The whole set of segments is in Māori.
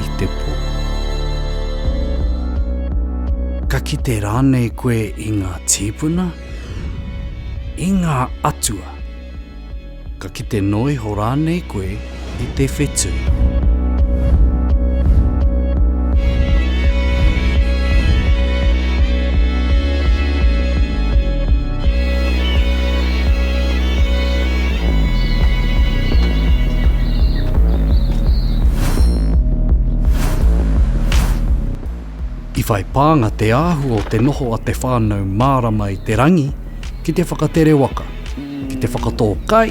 i te pō. Ka kite rānei koe i ngā tīpuna? I ngā atua? Ka kite noa iho rānei koe i te whetū? I whai pānga te āhua o te noho a te whānau mārama i te rangi ki te whakatere waka, ki te whakatō kai,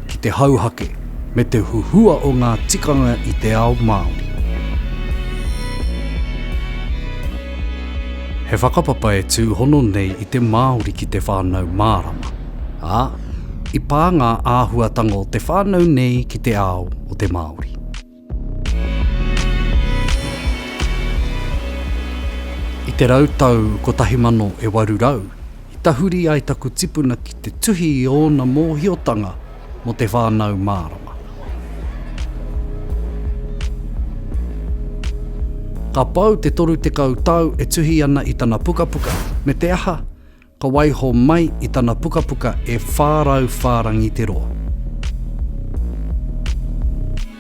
ki te hauhake me te huhua o ngā tikanga i te ao Māori. He whakapapa e tūhono nei i te Māori ki te whānau mārama, ā, i pā ngā āhuatanga o te whānau nei ki te ao o te Māori. I te rau tau 1800, i tahuri ai taku tipuna ki te tuhi i ōna mōhiotanga, mō te whānau mārama. Ka pau te 30 tau e tuhi ana i tana pukapuka, me te aha, ka waiho mai i tana pukapuka e 400 whārangi te roa.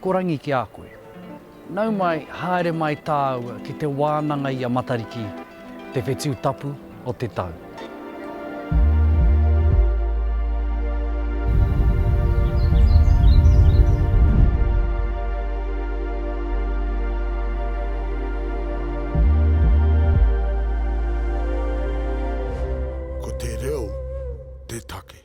Ko Rangi ki a koe. Nau mai, haere mai tāua ki te wānanga i a Matariki, te whetū tapu o te tau. Ko te reo te take.